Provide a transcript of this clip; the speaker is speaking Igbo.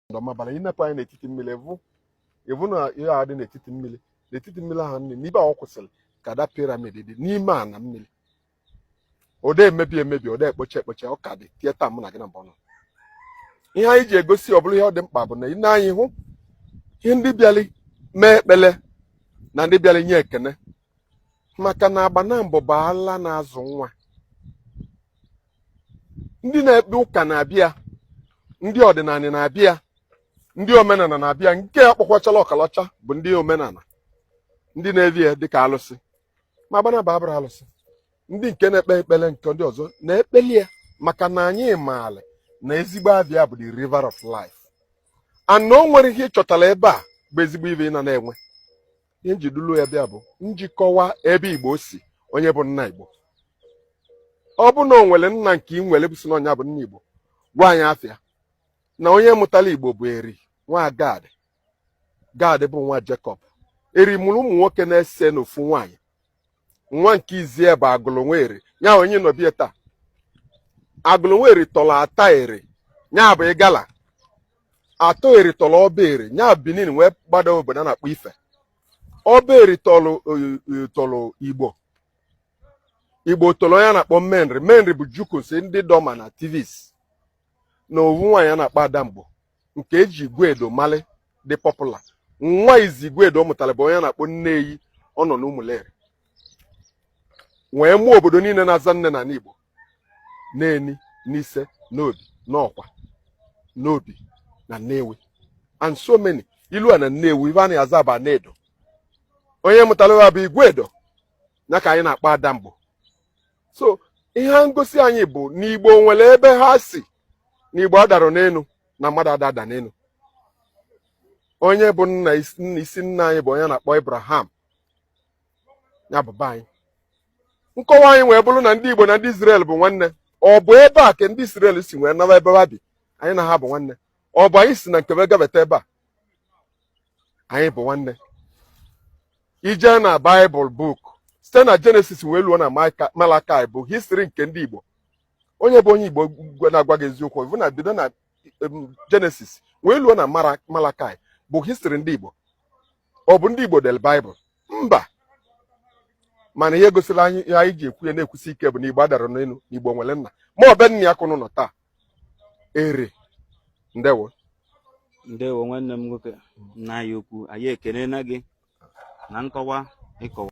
ndị ọmabala i nepụ anya n'etiti mmiri ị vụ ị vụ na ihe a dị n'etiti mmiri n'etiti mmiri ahụ nee n'ibe ọ kwụsịrị ka the pyramid dị n'ime ana mmiri ọ de emebi emebi ọ de ekpocha ekpocha ọ ka dị till taa mụ na gị nabọ nọ ihe anyị ji egosi ọ bụrụ ihe ọ dị mkpa bụ na i ne anya ị hụ ihe ndị bịali mee ekpele na ndị bịali nye ekene maka na agbanabọ bụ ala na-azụ nwa ndị na-ekpe ụka na-abịa ndị ọdịnala na-abịa ndị omenala na-abịa nke a kpọkwachala ọkalacha bụ ndị omenala ndị na-evi ya dịka alụsị ma agbanabọ abụrọ alụsị ndị nke na-ekpe ekpele nke ndị ọzọ na-ekpeli ya maka na anyị maara na ezigbo ebe a bụ the river of life ana o nwere ihe ị chọtara ebe a bụ ezigbo ive ị na na-enwe ihe m ji dulu ya bịa bụ m ji kọwa ebe igbo si onye bụ nna igbo ọ bụ na o nwere nna nke ị nwere bụ sị na ọ nya bụ nna igbo gwa anyị afa ya na onye mụtara igbo bụ eri nwa gad gad bụ nwa jekọb eri mụrụ ụmụ nwoke n'ise n'ofu nwaanyị nwa nke izie bụ agụlụ nwa eri nya onye nọ be ya taa agụlụ nwa eri tọrọ ata eri nya bụ igala ata eri tọrọ ọba eri nya benin wee gbada obodo a na-akpọ ife ọba eri tọrọ igbo igbo tọrọ onye a na-akpọ menri menri bụ jukuns ndị idoma na tivs na ovu nwaanyị a na-akpọ adamgbo nke e ji iguedo mali dị popular nwa izi iguedo ọ mụtara bụ onye a na-akpọ nneyi ọ nọ n'ụmụleri wee mụọ obodo niile na-aza nne na igbo Neni Nise Nnobi Nnọkwa Nnobi na Nnewi and so many i lua na Nnewi ive a na-aza bụ Anaedo onye mụtara ya bụ Iguedo ya ka anyị na-akpọ Adamgbo so ihe na-egosi anyị bụ na Igbo nwere ebe ha si na Igbo adarọ n'enu na mmadụ ada ada n'enu onye bụ nna isi nna anyị bụ onye a na-akpọ Abraham ya bụ be anyị nkọwa anyị wee bụrụ na ndị Igbo na ndị Izrel bụ nwanne ọ bụ ebe a ka ndị Izrel si wee nara ebe ha bi anyị na ha bụ nwanne ọ bụ anyị si na nkebe gabata ebe a anyị bụ nwanne i je na Baịbụl book site na Jenesis wee luo na Malakai bụ histri nke ndị Igbo onye bụ onye Igbo na-agwa gị eziokwu bụ na bido na Jenesis wee luo na Malakai bụ histri ndị Igbo ọ bụ ndị Igbo deli Baịbụl mba mana ihe gosiri anyị ihe anyị ji ekwu ya na-ekwusi ike bụ na Igbo adarọ n'enu na Igbo nwere nna ma ọ be nna ya ka ụnụ nọ taa Eri ndewo ndewo nwanne m nwoke nna anyị ukwu anyị ekele na gị na nkọwa ị kọwa